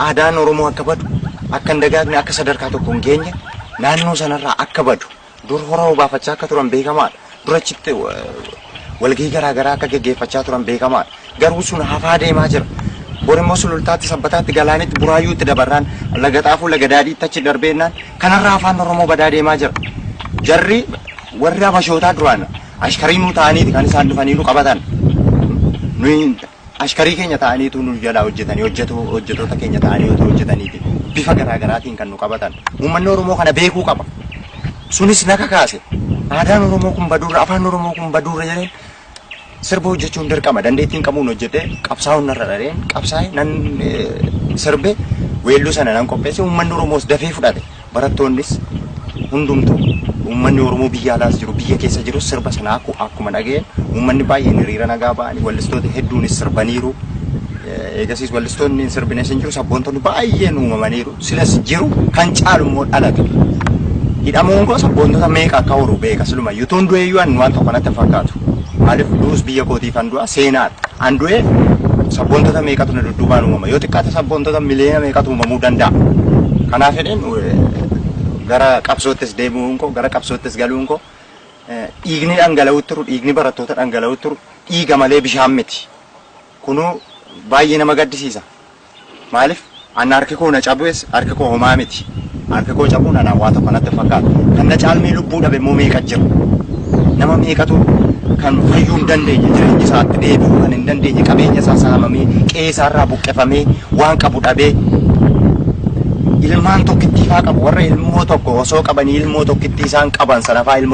aadaan Oromoo akka badu, akka hin dagaagne, akka sadarkaa tokko hin geenye, naannoo sanarraa akka badu dur hora obaafachaa akka turan beekamaadha. Dur achitti walgahii garaa garaa akka geggeeffachaa turan beekamaadha. Garuu sun hafaa deemaa jira. Bor immoo sulultaatti, sabbataatti, galaanitti, buraayyuutti dabarraan laga xaafuu, laga daadhiitti achi darbeennaan kanarraa afaan Oromoo badaa deemaa jira. Jarri warri abashootaa duraan ashkariinuu ta'aniiti kan isaan dhufanii nu qabatan. Nuyi Ashkarii keenya ta'anii utuu nu jalaa hojjetanii, hojjetuu, hojjetoota keenya ta'anii utuu hojjetaniiti bifa garaa garaatiin kan nu qabatan. Uummanni Oromoo kana beekuu qaba. Sunis na kakaase. Aadaan Oromoo kun baduurra, afaan Oromoo kun baduurra jedheen sirba hojjechuun dirqama. Dandeettiin qabuun hojjedhee qabsaa'uun narra dhareen qabsaa'e nan eh, sirbe weelluu sana nan qopheesse. Uummanni Oromoos dafee fudhate. Barattoonnis hundumtuu uummanni Oromoo biyya alaas jiru biyya keessa jirus sirba sana akku- akkuma dhaga'een uummanni baay'een hiriira nagaa ba'anii wallistoota hedduunis sirbaniiru. Eh, Eegasiis wallistoonni hin sirbines hin jiru sabboontonni baay'een uumamaniiru silas jiru kan caalu immoo dhalate. Hidhamuun koo sabboontota meeqa akka horu beeka siluma yutuun du'eeyyuu annu waan tokko natti hin fakkaatu. Maaliif du'us biyya kootiifan du'a seenaadha. An du'ee sabboontota meeqatu na dudduubaan uumama. Yoo xiqqaate sabboontota miliyoona meeqatu uumamuu danda'a. Kanaaf jedheen gara qabsoottis deebi'uun koo gara qabsoottis galuun koo dhiigni dhangala'uu turu dhiigni barattoota dhangala'uu turu dhiiga malee bishaan miti. Kunuu baay'ee nama gaddisiisa. Maalif anna harki koo na cabues harki koo homaa miti harki koo cabuun anaan waa tokko natti hin fakkaatu kan na caalmee lubbuu dhabe immoo meeqa jira nama meeqatu kan fayyuu hin dandeenye jireenya isaatti deebi'uu kan hin dandeenye qabeenya isaa saamamee qe'ee isaa irraa buqqifamee waan qabu dhabee ilmaan tokkittii faa qabu warra ilmoo tokko osoo qabanii ilmoo tokkittii isaan qaban sanafaa ilmoo